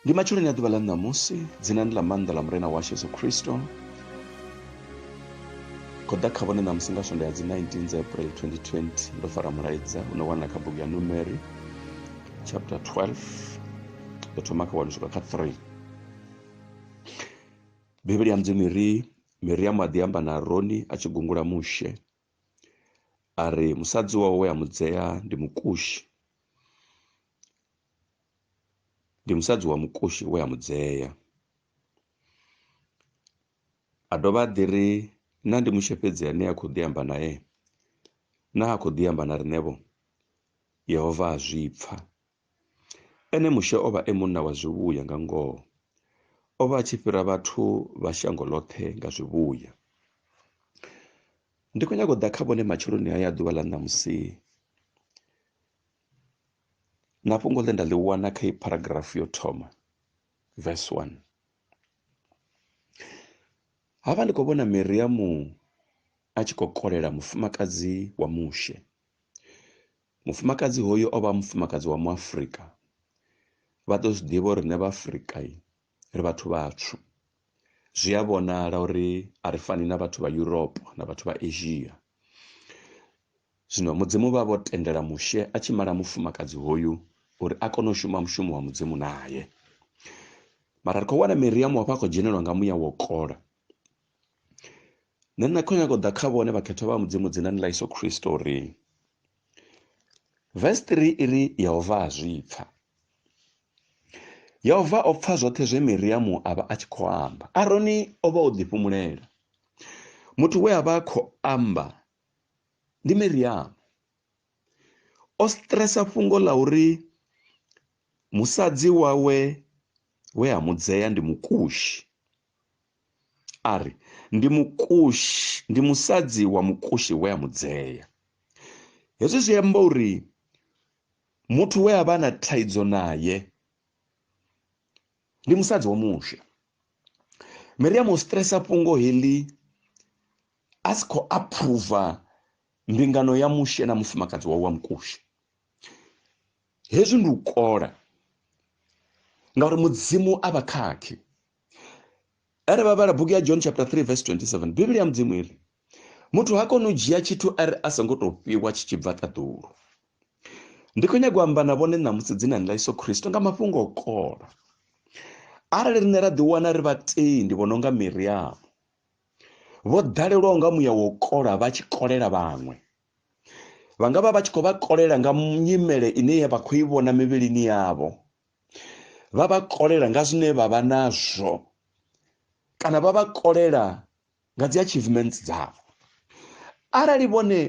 Ndi matshuloni a ḓuvha ḽa ṋamusi dzinani ḽa maanḓa ḽa murena washu yesu khristo khou ḓa kha vhone ṋamusi nga swonda ya dzi 19 dza april 2020 ndo fara mulaedza u no wanala kha bugu ya numeri chapter 12 ndo thoma kha wanu swika kha 3 bivhili ya mudzimu ri miriamu a ḓi amba na aroni a tshi gungula mushe a ri musadzi wawe we a mu dzea ndi mukushi ndi musadzi wa mukushi we a mu dzea a dovha a ḓi ri na ndi mushefhedzi ane a khou ḓi amba nae na a khou ḓi amba na riṋevho yehova a zwi pfa Ene Mushe o vha e munna wa zwivhuya nga ngoho. O vha a tshi fhira vhathu vha shango ḽoṱhe nga zwivhuya. Ndi khou nyaga u ḓa kha vhone matsheloni haya ḓuvha ḽa ṋamusi na fhungo ḽe nda ḽi wana kha i paragraph yo thoma verse 1 havha ndi khou vhona miriamu a tshi khou kolela mufumakadzi wa mushe Mufumakadzi hoyu o vha mufumakadzi wa muafrika vha ḓo zwi ḓivha uri riṋe vhaafrika ri vhathu vhatswu zwi a vhonala uri a ri fani na vhathu vha Europe na vhathu vha Asia zwino mudzimu vha vho tendela mushe a tshi mala mufumakadzi hoyu uri a kone u shuma mushumo wa mudzimu naye mara ri khou wana Miriamu hafha a khou dzhenelwa nga muya wo kola nṋe nṋe khou nyaga u ḓa kha vhone vhakhethwa vha mudzimu dzinani ḽa iso khristo uri vesi 3 iri yehova a zwi pfa yehova o pfa zwoṱhe zwe miriamu a vha a tshi khou amba aroni o vha o ḓifhumulela muthu we a vha a khou amba ndi miriamu o stresa fhungo ḽa uri musadzi wawe we a mudzea ndi mukushi a ri ndi mukushi ndi musadzi wa mukushi we a mudzea hezwi zwi amba uri muthu we a vha na thaidzo naye ndi musadzi wa mushe miriamu o stresa fhungo heḽi a si khou aphuruva mbingano ya mushe na mufumakadzi wawe wa mukushi hezwi ndi u kola ngauri mudzimu a vha khakhi are vavhala bhuku ya john chapter 3 verse 27 biblia mudzimu iri muthu ha koni u dzhia tshithu ari a songo tou fhiwa tshi tshi bva ṱaḓulu ndi khou nyaga u amba na vhone ṋamusi dzinani ḽa iso khristo nga mafhungo o kola arali riṋe ra ḓiwana ri vhatendi vho no nga miriamu vho ḓalelwaho nga muya wo kola vha tshi kolela vhaṅwe vha nga vha vha tshi khou vha kolela nga nyimele ine ya vha khou i vhona mivhilini yavho vha vha kolela nga zwine vha vha nazwo kana vha vha kolela nga dzi achievements dzavho arali vhone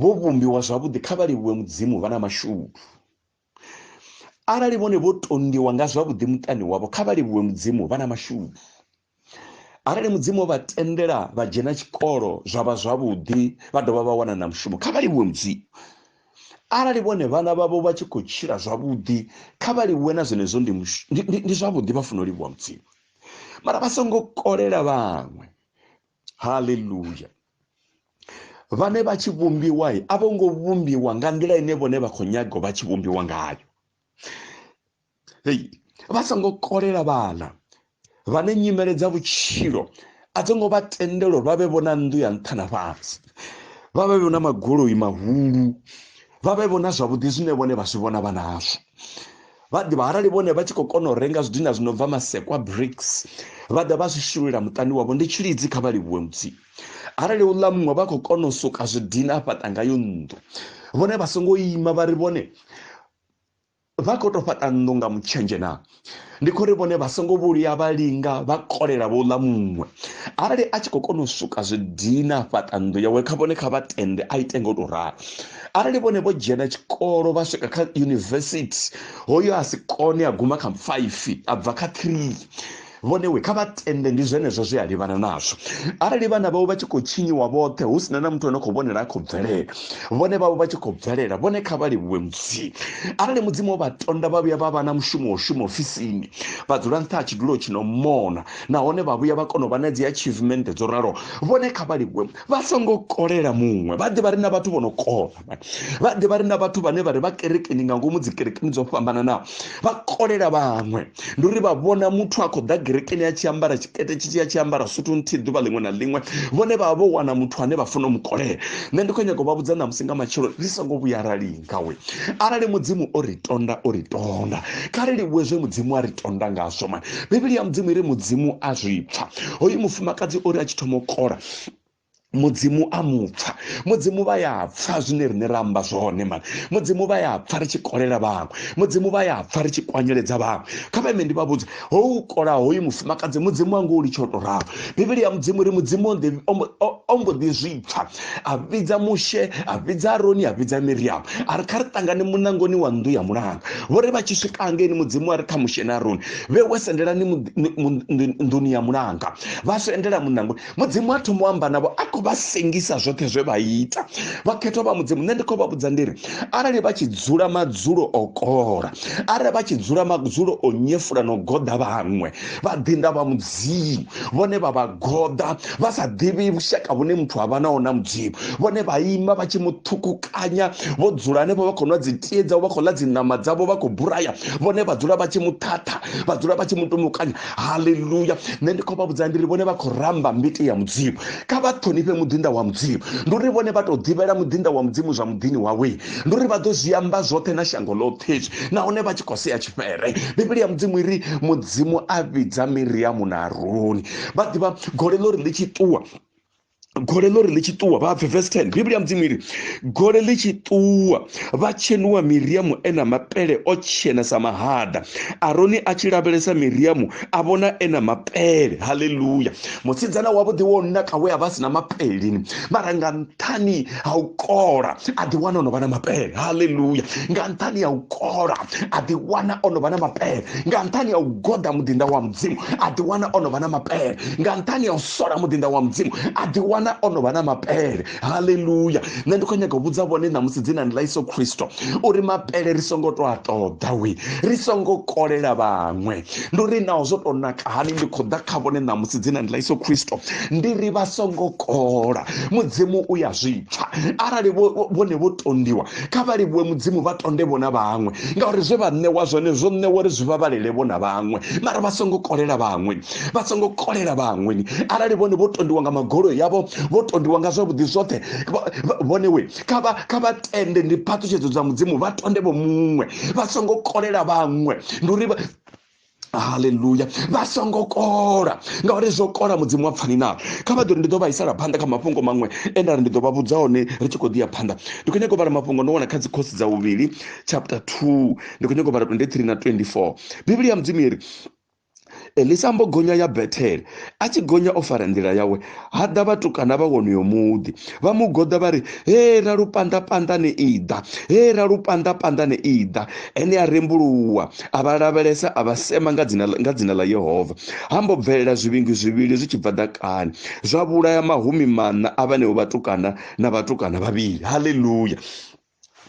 vho vhumbiwa zwavhuḓi kha vha livhuwe mudzimu vha na mashudu arali vhone vho tondiwa nga zwavhuḓi muṱani wavho kha vha livhuwe mudzimu vha na mashudu arali mudzimu vha tendela vha dzhena tshikolo zwa vha zwavhuḓi vha dovha vha wana na mushumo kha vha livhuwe mudzimu arali vhone vhana vhavho vha tshi khou tshila zwavhuḓi kha vha livhuwe na zwenezwo ndi zwavhuḓi vha funa u livhuwa mudzimu mara vha songo kolela vhaṅwe haleluya vhane vha tshi vhumbiwa a vho ngo vhumbiwa nga nḓila ine vhone vha khou nyaga vha tshi vhumbiwa ngayo hei vha songo kolela vhana vhane nyimele dza vhutshilo a dzi ngo vha tendelo vha vhe vhona nnḓu ya nṱha na fhasi vha vhe vhona magoloi mahulu vha vhe vhona zwavhuḓi zwine vhone vha zwi vhona vha nazwo vha ḓivha arali vhone vha tshi khou kona u renga zwidina zwi no bva masekwa brics vha ḓa vha zwi shululela muṱani wavho ndi tshilidzi kha vha livhuwe mudzimu arali u ḽa muṅwe vha khou kona u suka zwidina a fhaṱa ngayo nnḓu vhone vha songo ima vha ri vhone Vha khou tou fhaṱa nnḓu nga mutshenzhe na? Ndi khou ri vhone vha songo vhuya vha linga vha kolela vho ḽa muṅwe. Arali a tshi khou kona u suka zwi dina a fhaṱa nnḓu yawe kha vhone kha vha tende a ite nga u tou ralo. Arali vhone vho dzhena tshikolo vha swika kha yunivesithi hoyo a si kone a guma kha faifi a bva kha three vhone we kha vha tende ndi zwenezwo zwe a livhana nazwo arali vhana vhavho vha tshi khou tshinyiwa vhoṱhe hu sina na muthu ano khou vhonela a khou bvelela vhone vhavho vha tshi khou bvelela vhone kha vha livhuwe mudzimu arali mudzimu o vha tonda vha vhuya vha vha na mushumo wa u shuma ofisini vha dzula nṱha ha tshidulo tshi no mona nahone vha vhuya vha kona u vha na dzi achievement dzo ralo vhone kha vha livhuwe vha songo kolela muṅwe vha ḓivha ri na vhathu vho no kona vha ḓe vha ri na vhathu vhane vha ri vha kerekeni nga ngomu dzi kerekeni dzo fhambananaho vha kolela vhaṅwe ndi uri vha vhona muthu a khou ḓa kerekeni a tshi ambara tshikete tshi tshi a tshi ambara suthu nthihi ḓuvha ḽiṅwe na ḽiṅwe vhone vha vha vho wana muthu ane vha funa u mu kolela nṋe ndi khou nyaka u vha vhudza ṋamusi nga matshelo ri songo vhuya ra linga we arali mudzimu o ri tonda o ri tonda kha ri livhuwe zwe mudzimu a ri tonda ngazwo mani bivhili ya mudzimu i ri mudzimu a zwi pfa hoyu mufumakadzi uri a tshi thoma u kola mudzimu a mupfa mudzimu vha ya pfa zwine rine ra amba zwone mani mudzimu vha ya pfa ri tshi kolela vhaṅwe mudzimu vha ya pfa ri tshi kwanyeledza vhaṅwe kha vha ime ndi vha vhudze ho u kola hoyu mufumakadzi mudzimu wanga u litsha u to ralo bivhili ya mudzimu ri mudzimu o ḓi- o mbo- o- o mbo ḓi zwi pfa a vhidza mushe a vhidza aroni a vhidza miriamu a ri kha ri ṱangane munangoni wa nnḓu ya mulanga vho ri vha tshi swika hangeni mudzimu a ri kha mushe na aroni vhe we sendelani muḓi- mu- mu- nḓuni ya mulanga vha swendela munangoni mudzimu a thoma u amba navho a khou vha sengisa zwoṱhe zwe vha ita vhakhethwa vha mudzimu nṋe ndi khou vha vhudza ndiri arali vha tshi dzula madzulo o kola arali vha tshi dzula madzulo o nyefula no goḓa vhaṅwe vha ḓinda vha mudzimu vhone vha vha goḓa vha sa ḓivhi vhushaka vhune muthu a vha nawo na mudzimu vhone vha ima vha tshi muṱhukukanya vho dzula hanefho vha khou nwa dzitie dzavho vha khou ḽa dziṋama dzavho vha khou buraya vhone vha dzula vha tshi muṱhaṱha vha dzula vha tshi mutumukanya haleluya nṋe ndi khou vha vhudza ndi ri vhone vha khou ramba mbiti ya mudzimu kha vha ṱhonifhe muḓinda wa mudzimu ndi uri vhone vha tou ḓivhela muḓinda wa mudzimu zwa muḓini wawe ndi uri vha ḓo zwi amba zwoṱhe na shango ḽoṱhe izwi nahone vha tshi khou sea tshifhere bivhili ya mudzimu iri mudzimu a vhidza miriamu na aroni vha ḓivha gole ḽo ri ḽi tshi ṱuwa gole ḽo ri ḽi tshi ṱuwa vha bve verse 10 biblia mudzimu iri gole ḽi tshi ṱuwa vha tshenuwa miriamu e na mapele o tshena sa mahada aroni a tshi lavhelesa miriamu a vhona e na mapele haleluya musidzana wavhuḓi wo naka we a vha si na mapelelini mara nga nṱhani ha u kola a ḓi wana ono vha na mapele haleluya nga nṱhani ya u kola a ḓi wana ono vha na mapele nga nṱhani ya u goda muḓinda wa mudzimu a ḓi wana ono vha na mapele nga nṱhani ya u sola muḓinda wa mudzimu a ḓi wana ono vha na mapele haleluya nṋe ndi khou nyaga u vhudza vhone ṋamusi dzinani ḽa iso khristo uri mapele ri songo to a ṱoḓa wi ri songo kolela vhaṅwe ndi uri naho zwo tou naka hani ndi khou ḓa kha vhone ṋamusi dzina ndi ḽa iso khristo ndi ri vha songo kola mudzimu u ya zwipfa arali vhone vho tondiwa kha vha livhuwe mudzimu vha tonde vhona vhaṅwe ngauri zwe vha ṋewa zwone zwo ṋewa uri zwi vha vhalele vhona vhaṅwe mara vha songo kolela vhaṅwe vha songo kolela vhaṅwe arali vhone vho tondiwa nga magolo yavho vho tondiwa nga zwavhuḓi zwoṱhe vhone we kha vha kha vha tende ndi phaṱhutshedzo dza mudzimu vha tonde vho muṅwe vha songo kolela vhaṅwe ndi uri haleluya vha songo kola ngauri zwo kola mudzimu wa pfani nalo kha vha ḓori ndi ḓo vhaisala phanḓa kha mafhungo maṅwe e nda ri ndi ḓo vha vhudza hone ri tshi khou ḓi ya phanḓa ndi khou nyaka u vhala mafhungo ndo wana kha dzikhosi dza vhuvhili chapter 2 ndi khou nyaka u vhala 23 na 24 bivhili ya mudzimu yeri elisa mbo gonya ya bethele a tshi gonya o fara nḓila yawe ha ḓa vhatukana vha wonoyo muḓi vha mu goḓa vha ri he ra lupanda panda ni iḓa he ra lupanda panda ni iḓa ene a rembuluwa a vha lavhelesa a vha sema nga dzina nga dzina ḽa yehova ha mbo bvelela zwivhingi zwivhili zwi tshi bva ḓakani zwa vhulaya mahumi maṋa a vhaneo vhatukana na vhatukana vhavhili haleluya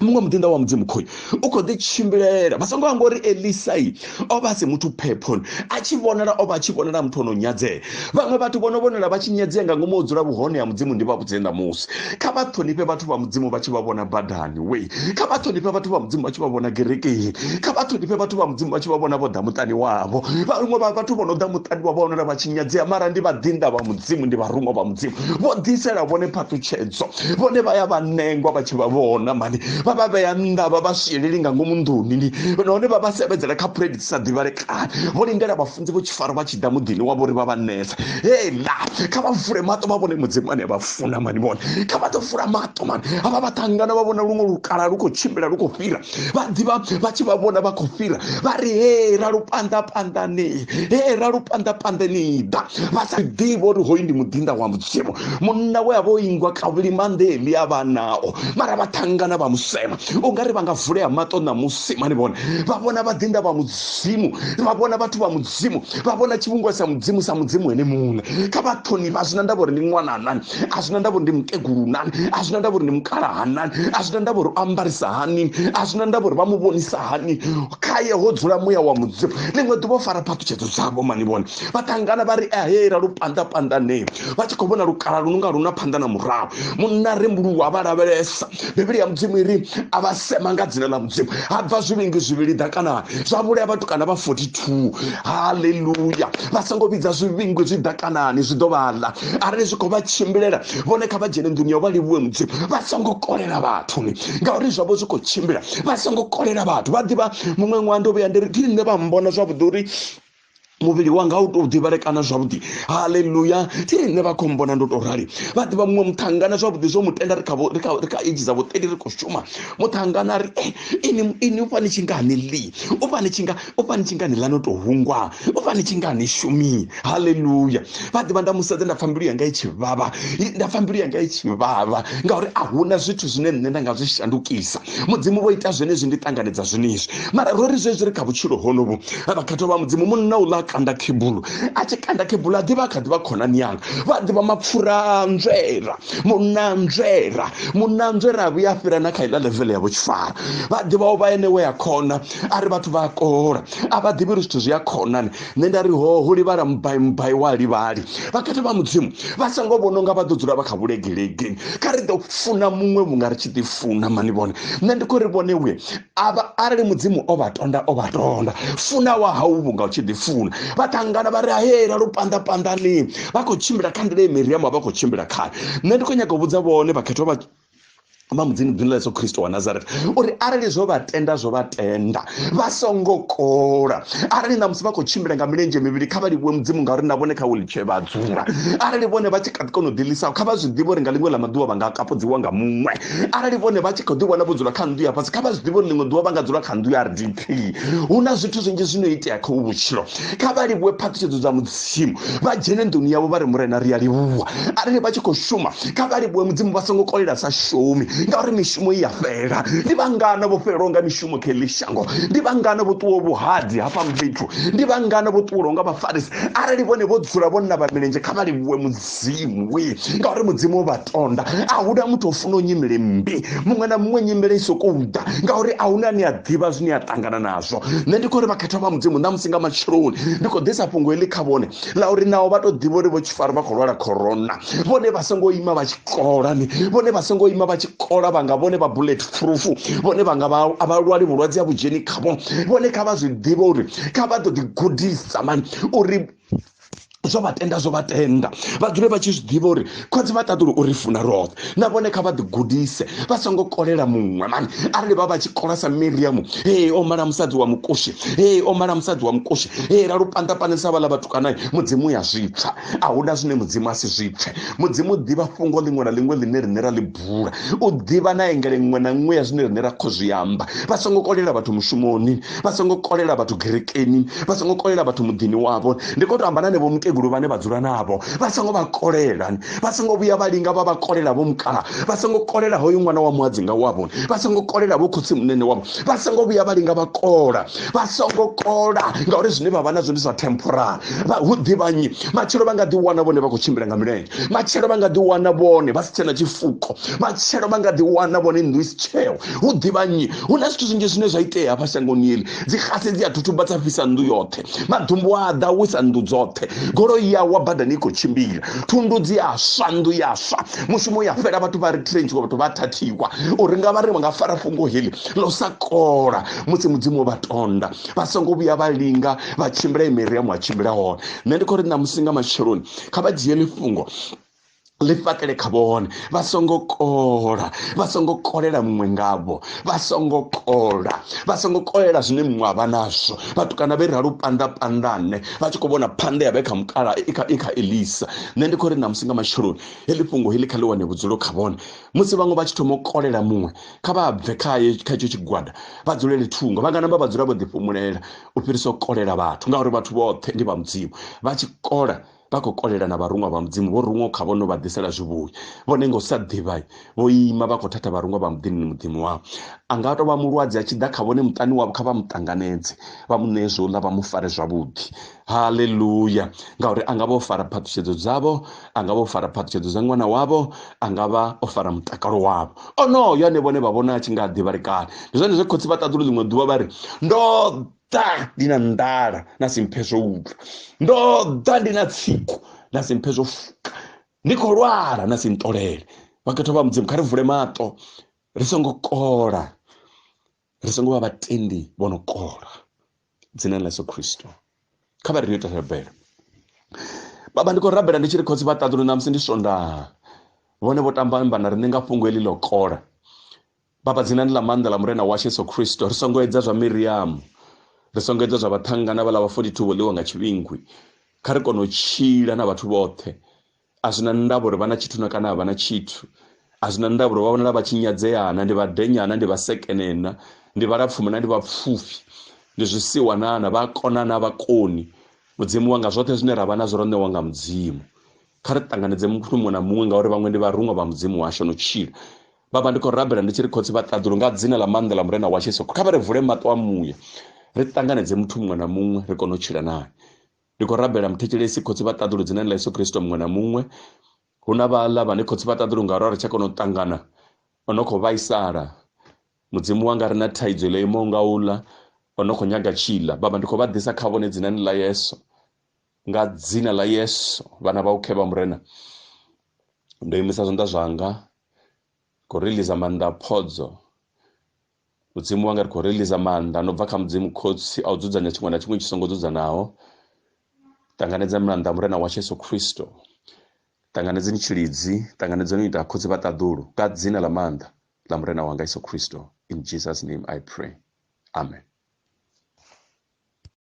muṅwe muḓinḓa wa mudzimu khoyu u khou ḓi tshimbilela vha songo amba uri elisai o vha a si muthu phephoni a tshi vhonala o vha a tshi vhonala muthu o no nyadzea vhaṅwe vhathu vho no vhonala vha tshi nyadzea nga ngomu o dzula vhuhone ha mudzimu ndi vha vhudze ṋamusi kha vha ṱhonifhe vhathu vha mudzimu vha tshi vha vhona badani we kha vha ṱhonifhe vhathu vha mudzimu vha tshi vha vhona gerekeni kha vha ṱhonifhe vhathu vha mudzimu vha tshi vha vhona vho ḓa muṱani wavho vhaṅwe vha vhathu vho no ḓa muṱani wa vhonala vha tshi nyadzea mara ndi vhaḓinḓa vha mudzimu ndi vharuṅwa vha mudzimu vho ḓisela vhone phaṱhutshedzo vhone vha ya vha nengwa vha tshi vha vhona mani vha vha vhea nnḓa vha vha swieleli nga ngomu nḓuni ni nahone vha vha sevhedzela kha phuledi dzi sa ḓivhalekani vho lindela vhafunzi vho tshifaro vha tshi ḓa muḓini wavho uri vha vha nesa hela kha vha vule maṱo vha vhone mudzimu ane vha funa mani vhone kha vha ḓo vula maṱo mani havha vha ṱangana vha vhona luṅwe lukala lu khou tshimbila lu khou fhira vha ḓivha vha tshi vha vhona vha khou fhira vha ri he ralo phanḓa phanḓani he ralo phanḓa phanḓani ḓa vha sa ḓivha uri hoyu ndi muḓinḓa wa mudzimu munna we a vha o ingwa kavhuli manḓeli a vha nao mara vha ṱangana vha musema u nga ri vha nga vulea maṱo ṋamusi mani vhone vha vhona vhaḓinḓa vha mudzimu vha vhona vhathu vha mudzimu vha vhona tshivhungiwa sa mudzimu sa mudzimu ene muṋe kha vha ṱhonifha zwi na ndavha uri ndi ṅwananani a zwina ndavha uri ndi mukegulu nani a zwina ndavha uri ndi mukalaha nani a zwina ndavha uri o ambarisa hani a zwina ndavha uri vha mu vhonisa hani khaye ho dzula muya wa mudzimu ḽiṅwe ḓuvha o fara phaṱhutshedzo dzavho mani vhone vha ṱangana vha ri ahera lu panda pandanee vha tshi khou vhona lukala lu nunga lu na phanḓa na murahu munna rembuluwa vha lavhelesa bivhili ya mudzimu iri a vha sema nga dzina ḽa mudzimu ha bva zwivhingi zwivhili ḓakanani zwa vhulea vhatukana vha 42 haleluya vha songo vhidza zwivhingi zwi ḓakanani zwi ḓo vhaḽa arali zwi khou vha tshimbilela vhone kha vha dzhene nḓuni ya u vha livhuwe mudzimu vha songo kolela vhathuni ngauri zwavho zwi khou tshimbila vha songo kolela vhathu vha ḓivha muṅwe ṅwaha ndo vhuya ndi ri ndi nṋe vha mbona zwavhuḓi uri muvhili wanga u tou ḓivhalekana zwavhuḓi haleluya thi nṋe vha khombona ndo tou rali vha ḓivha muṅwe muṱhangana zwavhuḓi zwo mu tenda ri kha eji dza vhuṱeli ri khou shuma muṱhangana ri eh, ini ini u fani tshingani li u fani tshinga u fani tshingani ḽa no tou hungwa u fani tshingani shumi haleluya vha ḓivha nda musedza nda pfha mbilu yanga i tshi vhavha nda pfha mbilu yanga i tshi vhavha ngauri a huna zwithu zwine nṋe nda nga zwi shandukisa mudzimu vho ita zwenezwi ndi ṱanganedza zwenezwi mara ro ri zwezwi ri kha vhutshilo honovhu vhakhathwa vha mudzimu munna u ḽa kanda khebulu a tshi kanda khebulu a ḓivha a kha ḓivha khonani yanga vha ḓivha mapfura a nzwera munna a nzwera munna a nzwera a vhuya a fhira na kha iḽa levele ya vhutshifara vha ḓivha o vha ene we a khona a ri vhathu vha a kola a vha ḓivhi uri zwithu zwi a khonani nṋe nda ri ho ho livhala mubai mubai wa livhali vhakati vha mudzimu vha songo vhona unga vha ḓo dzula vha kha vhulegelege kha ri ḓo funa muṅwe vhunga ri tshi ḓi funa mani vhone nṋe ndi khou ri vhone uye avha arali mudzimu o vha tonda o vha tonda funa wa hau vhunga u tshi ḓi funa vha ṱangana vha ri hayela lu panḓa panḓani vha khou tshimbila kha nḓila ye miriamu a vha khou tshimbila khayo nṋe ndi khou nyanga u vhudza vhone vhakhetho vha vha mudzini dzini ḽa yesu khristo wa nazareth uri arali zwo vha tenda zwo vha tenda vha songo kola arali ṋamusi vha khou tshimbila nga milenzhe mivhili kha vha livhuwe mudzimu ngauri na vhone kha wheelchair vha dzula arali vhone vha tshi kha ḓi kona u ḓilisaho kha vha zwi ḓivhe uri nga ḽiṅwe ḽa maḓuvha vha nga kapudziwa nga muṅwe arali vhone vha tshi khou ḓi vhona vho dzula kha nnḓu ya fhasi kha vha zwi ḓivhe uri ḽiṅwe ḓuvha vha nga dzula kha nnḓu ya rdp hu na zwithu zwinzhi zwino itea kha vhutshilo kha vha livhuwe phaṱhutshedzo dza mudzimu vha dzhene nḓuni yavho vha ri murena ri a livhuwa arali vha tshi khou shuma kha vha livhuwe mudzimu vha songo kolela sa shumi ngauri mishumo i ya fhela ndi vhangana vho fhelelwa nga mishumo kha eḽi shango ndi vhangana vho ṱuwa vhuhadzi hafha fhethu ndi vhangana vho ṱuwelwa nga vhafarisi arali vhone vho dzula vho navha milenzhe kha vha livhuwe mudzimu mudzimu we ngauri mudzimu o vha tonda a huna muthu o funa u nyimele mmbi muṅwe na muṅwe nyimele i sokou ḓa ngauri a huna ni a ḓivha zwine a ṱangana nazwo nṋe ndi khou ri vhakhethwa vha mudzimu na musi nga matsheloni ndi khou ḓisa fhungo heḽi kha vhone ḽa uri naho vha to ḓivha uri vho tshifari vha khou lwala khorona vhone vha songo ima vha tshi kola ni vhone vha songo ima vha tshi kola vhanga vhone vha bullet proof vhone vhanga vha lwali vhulwadze ha vhudzheni khavho vhone kha vha zwi ḓivhe uri kha vha ḓo ḓi gudisa mani uri zwo vha tenda zwo vha tenda vha dzule vha tshi zwi ḓivha uri khotsi vha ṱaḓulu uri funa roṱhe na vhone kha vha ḓigudise vha songo kolela muṅwe mani arali vha vha tshi kola sa miriamu hei o mala musadzi wa mukushi hei o mala musadzi wa mukushi hei ra lupanḓapanḓisa vhaḽa vhatukanayi mudzimu ya zwipfa a hu na zwine mudzimu a si zwipfe mudzimu ḓivha fhungo ḽiṅwe na ḽiṅwe ḽine riṋe ra ḽi bula u ḓivha na engele ṅwe na ṅwe ya zwine rine ra khou zwi amba vha songo kolela vhathu mushumoni vha songo kolela vhathu gerekeni vha songo kolela vhathu muḓini wavho ndi khou to amba na nevho mukegulu vhane vha dzula navho vha songo vha kolela vha songo vhuya vha linga vha vha kolela vho mukala vha songo kolela hoyo ṅwana wa muhadzinga wavho vha songo kolela vho khotsi munene wavho vha songo vhuya vha linga vha kola vha songo kola ngauri zwine vha vha nazwo ndi zwa temporary hu ḓivhanyi matshelo vha nga ḓi wana vhone vha khou tshimbila nga milenzhe matshelo vha nga ḓi wana vhone vha si tshena tshifuko matshelo vha nga ḓi wana vhone nnḓu i si tsheo hu ḓivha nnyi hu na zwithu zwinzhi zwine zwa itea hafha shangoni eli dzi xase dzi a thuthuba dza fhisa nnḓu yoṱhe maḓumbu a ḓa wisa nnḓu dzoṱhe goloi ya wa badani i khou tshimbila thundu dzi a swa nnḓu ya swa mushumo ya fhela vhathu vha ri trenchiwa vhathu vha thathiwa uri nga vha ri vha nga fara fhungo heli ḽo sa kola musi mudzimu vha tonda vha songo vhuya vha linga vha tshimbila imeri ya mu a tshimbila hone nṋe ndi khou ri ṋamusi nga matsheloni kha vha dzhie ḽifhungo ḽi fhaṱele kha vhone vha songo kola vha songo kolela muṅwe ngavho vha songo kola vha songo kolela zwine muṅwe avha nazwo vhatukana vhe ralo panda pandane vha tshi kho vhona phanda yavhe kha mukala i kha elisa nṋe ndi khou ri ṋamusi nga matsheloni heḽi fhungo heḽi kha ḽi wane vhudzulo kha vhone musi vhaṅwe vha tshi thoma u kolela muṅwe kha vha bve khaye kha itsho tshigwada vha dzulele thungo vha nga namba vha dzula vho ḓifhumulela u fhirisa u kolela vhathu ngauri vhathu vhoṱhe ndi vha mudzimu vha tshi kola vha khou kolela na vharuṅwa vha mudzimu vho ruṅwa kha vhono vha ḓisela zwivhuya vhone nga u sa ḓivha vho ima vha khou thatha vharuṅwa vha muḓini muḓini wavho a nga tou vha mulwadze a tshi ḓa kha vhone muṱani wavho kha vha mu ṱanganedze vha mu ṋee zwo ḽa vha mu fare zwavhuḓi haleluya ngauri a nga vha o fara phaṱhutshedzo dzavho a nga vha o fara phaṱhutshedzo dza ṅwana wavho a nga vha o fara mutakalo wavho onoyo ane vhone vha vhona a tshi nga a ḓivha lekani ndi zwone zwe khotsi vha ṱaḓulu ḽiṅwe ḓuvha vha ri ndo ḓa ndi na nḓala na si mphe zwo utlwa ndo ḓa ndi na tsiku na si mphe zwo fuka ndi khou lwala na si ntolele vhakhetho vha mudzimu kha ri vule maṱo ri songo kola ri songo vha vhatendi vho no kola dzina ḽa yesu khristo kha vha ri ni ita rabelo baba ndi khou rabela ndi tshi ri khotsi vha ṱaḓulu ṋamusi ndi swondaha vhone vho tamba mba na ri ni nga fhungo heḽi ḽo kola baba dzinani ḽa maanḓa ḽa murena washu yesu khristo ri songo edza zwa miriamu ri songo edza zwa vhaṱhanga na vhaḽa vha 42 vho ḽiwa nga tshivhingwi kha ri kone u tshila na vhathu vhoṱhe a zwi na ndavha uri vha na tshithu na kana a vha na tshithu a zwi na ndavha uri vha vhonala vha tshinyadzeana ndi vhadenyana ndi vhasekenena ndi vhalapfuma na ndi vhapfufhi ndi zwisiwa nana vha kona na vhakoni mudzimu wanga zwoṱhe zwine ra vha nazwo ro ṋewa nga mudzimu kha ri ṱanganedze muthu muṅwe na muṅwe ngauri vhaṅwe ndi vharuṅwa vha mudzimu washu no tshila vhavha ndi khou rabela ndi tshi ri khotsi vha ṱaḓulu nga dzina ḽa maanḓa ḽa murena wa jesu kha vha ri vule maṱo a muya ri ṱanganedze muthu muṅwe na muṅwe ri kone u tshila naye ndi khou rabela muthetshelesi khotsi vha ṱaḓulu dzina ḽa yesu kristo muṅwe na muṅwe hu na vhaḽa vhane khotsi vha ṱaḓulu nga ro ri tsha kona u ṱangana o no khou vhaisala mudzimu wanga ri na thaidzo ḽo imaho nga uḽa o no khou nyaga tshiḽa baba ndi khou vha ḓisa kha vhone dzinani ḽa yesu nga dzina ḽa yesu vhana vha u khevha murena ndo imisa zwanḓa zwanga khou riliza maanḓa phodzo mudzimu wanga ri khou releasa maanḓa no bva kha mudzimu khotsi a u dzudzanya tshiṅwe na tshiṅwe tshi songo dzudzanaho ṱanganedza mulanda murena wa yesu khristo ṱanganedzeni tshilidzi ṱanganedzeni u ita khotsi vha ṱaḓulu nga dzina ḽa maanḓa ḽa murena wanga yesu khristo in jesus name i pray amen